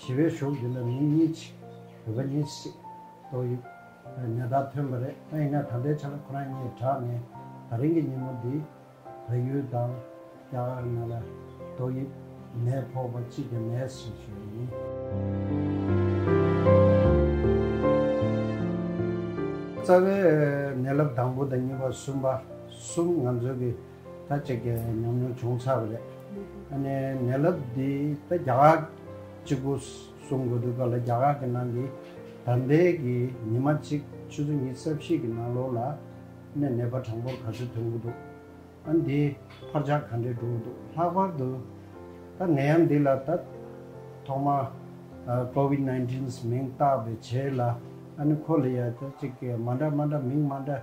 ཞི་བའི་ཞོགས་འདི་ལ་མིང་གཉིས་མཆི། བོད་པ་གཉིས་སྲིད། ཏོག་དབྱིབས། ནད་རྟགས་ཐོན་པ་རེད་ཨ་ཡིན་ན་ད་ལྟའི་ཆ་ལ་ཁོ་རང་གཉིས་དྲགས་ནས་ད་རིང་གི་ཉིན་མོ་འདི། བལ་ཡུལ་དང། རྒྱ་གར་ནང་ལ། ཏོག་དབྱིབས། ནད་ཕོག་པ་གཅིག་གི་ནད་སོ་ཞེས་པ་ཡིན། རྩ་བའི། ནད་རླབས་དང་པོ་དང་གཉིས་པ་གསུམ་པ། གསུམ་ང་ཚོའི་གི། ད་གཅིག་གི་ཉམས་མྱོང་བྱུང་ཚར་བ་རེད། ཨ་ནི་ནད་རླབས་འདི་ད་རྒྱ་གར་གཅིག་པུ་གསུང་དགོས་འདུག་ག་ལ་རྒྱ་གར་གྱི་ནང་གི་ད་ལྟའི་གི་ཉི་མ་གཅིག་ཆུ་ཚོད་གཉིས་རྩ་བཞི་གི་ནང་ལོགས་ལ་ནས་ནད་པ་གྲངས་འབོར་ག་ཚོད་ཐོན་གི་འདུག་ཨ་འདི་འཕར་ཆག་ག་འདྲས་འགྲོ་གི་འདུག་ལྷག་པར་དུ་ད་ནད་ཡམས་འདི་ལ་ད་ཐོག་མ COVID nineteen མིང་བཏགས་པའི་བྱས་ལ་ཨ་ནི་ཁོ་ལ་ཡ་ད་གཅིག་གི་མ་འདྲ་མ་འདྲ་མིང་མ་འདྲ་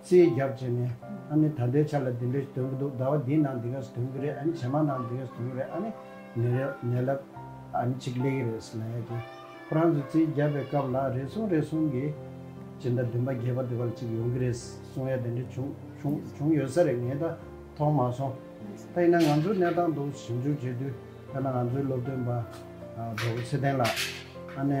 རྩིས་རྒྱག་བྱས་ནས་ཨ་ནི་ད་ལྟའི་ཆ་ལ་འདི་འདྲའི་དོན་གྱི་འདུག་ཟླ་བ་འདིའི་ནང་འདི་ག་ས་དོན་གྱི་རེད་ཨ་ནི་ཇེ་མང་ནང་འདི་ག་ས་དོན་གྱི་རེད་ཨ་ནི་མི་རེ་ནད་ལ་ཨ་ནི་ཆིག་ལེ་གི་རེད་ཟེར་ན་ཡག་གི། ཁོ་རང་ཚོས་རྩིས་རྒྱག་པའི་སྐབས་ལ་རེ་ཟུང་རེ་ཟུང་གིས་སྤྱི་ཟླ་བདུན་པ་བརྒྱད་པ་དེ་བར་གཅིག་ཡོང་གི་རེད་གསུངས་ཡ་དེ་འདྲ་བྱུང་བྱུང་བྱུང་ཡོད་ས་རེད་ངས་ད་མཐོང་མ་སོང། ད་ཡིན་ན་ང་ཚོའི་གནས་སྟངས་དུ་ཞིབ་འཇུག་བྱེད་དུས་ཐ་ན་ང་ཚོའི་སློབ་སྟོན་པ་རྡོ་རྗེ་ཚེ་བརྟན་ལགས་ཨ་ནི།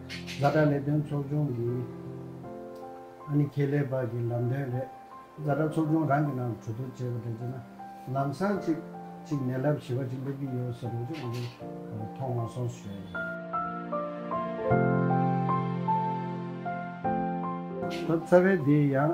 བཟའ་བྲ་ལས་དོན་ཚོགས་ཆུང་གིས་ཨ་ནི་ཁེ་ལས་པར་གྱི་ལམ་སྟོན་རེད། བཟའ་བྲ་ཚོགས་ཆུང་རང་གི་ནང་གྲོས་བསྡུར་བྱས་པ་དེ་བརྗེད་ན་ལམ་སང་གཅིག་གཅིག་ནད་རླབས་ཞི་བ་གཅིག་སླེབས་ཀྱི་ཡོད་ཟེར་རོགས་གཅིག་ང་ཚོ་མཐོང་མ་སོང་ཟེར། ད་རྩ་བའི་དེ་ཡང།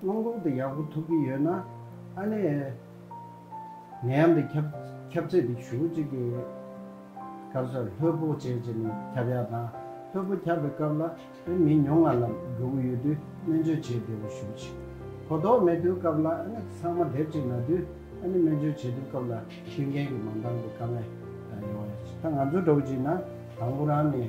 སྔོན་གོང་དུ་ཡག་པོ་ཐུབ་ཀྱི་ཡོད་ན། ཨ་ནེ། ངའི་ཡང་འདི་ཁྱབ་ཁྱབ་ཚད་འདི་ཞུ་གཅིག་གི། སྐབས་སུ་ལྷོད་པོ་བྱས་བྱས་ནས་ཁྱབ་ཡག་དང། ལྷོད་པོ་ཁྱབ་པའི་སྐབས་ལ་ཨ་ནེ་མི་ཉུང་ང་ལ་འགྲོ་གི་ཡོད་དུས་སྨན་བཅོས་བྱེད་བདེ་བོ་ཞུ་གཅིག། གོ་རྟོགས་མེད་དུས་སྐབས་ལ་ཨ་ནེ་ཚང་མ་དེབ་ཅིག་ན་དུས་ཨ་ནེ་སྨན་བཅོས་བྱེད་དུས་སྐབས་ལ་མཐུན་རྐྱེན་གྱི་མ་འདང་པའི་དཀའ་ངལ་ཡོང་ཡོད། ད་ང་ཚོ་འགྲོ་གི་ཅིག་ན་དང་པོ་རང་ནས།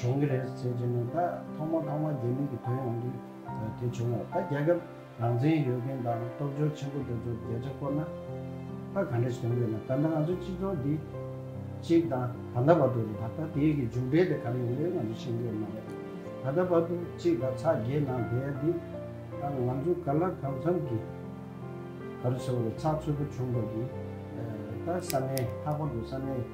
གྲོང་གི་རེད་ཟེར་གྱི་ནི་ད་ཐོག་མ་ཐོག་མ་རྒྱ་མི་གི་དོན་ཡོང་དུས་དེ་བྱུང་ལ་ད་རྒྱ་ཁབ་རང་བཙན་ཡོད་མཁན་དང་སྟོབས་འབྱོར་ཆེན་པོ་དེ་ཚོ་རྒྱ་ཆ་བསྐོར་ན་ད་ག་འདྲ་ཞིག་ཡོང་གི་ན་ད་ནི་ང་ཚོ་སྤྱི་ཚོགས་འདི་གཅིག་དང་ད་ལྟ་བར་དུ་རེད་ད་ད་དེའི་གི་མཇུག་འབྲས་དེ་ག་རེ་ཡོང་གི་རེད་ང་ཚོ་ཤེས་ཀྱི་ཡོད་མ་རེད་ད་ལྟ་བར་དུ་གཅིག་ད་ཚ་རྒྱའི་ནང་བསྡད་ཡ་འདི་ད་ང་ཚོ་ག་ལ་གང་འཚམ་གི་ག་རེ་ཟེར་བ་རེད་ཚགས་ཚུད་པོ་བྱུང་བ་གི་ད་ས་གནས་ལྷག་པར་དུ་ས་གནས།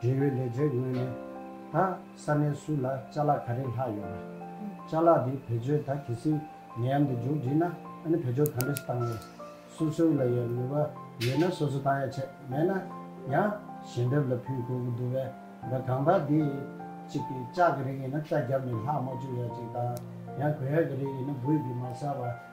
འབྲེལ་ཡོད་ལས་བྱེད་ངོས་ནས། ད་ས་གནས་སུ་ལ་ལྕགས་ལག་ག་རེ་ལྷག་ཡོད་པ། ལྕགས་ལག་དེ་བེད་སྤྱོད་ད་གལ་སྲིད་ནད་ཡམས་དེ་མཇུག་བསྒྲིལ་ན་ཨ་ནི་བེད་སྤྱོད་ག་འདྲ་ཞིག་བཏང་ཡོད། སོ་སོའི་ལ་ཡང་ནུས་པ་ཡོད་ན་སོ་སོ་བཏང་ཡ་ཆད་མེད་ན་ཡང་ཞལ་འདེབས་ལ་ཕུལ་དགོས་ཀྱི་འདུག་བས་ན་གང་ལྟར་དེ་གཅིག་གི་ལྕགས་ཀྱི་རིགས་ཡིན་ན་ལྕགས་རྒྱབ་ནས་ལྷག་མ་བཅུག་ཡ་གཅིག་དང་ཡང་གོས་ཡ་གི་རིགས་ཡིན་ན་སྦུས་ཀྱིས་མ་ཟ་བར།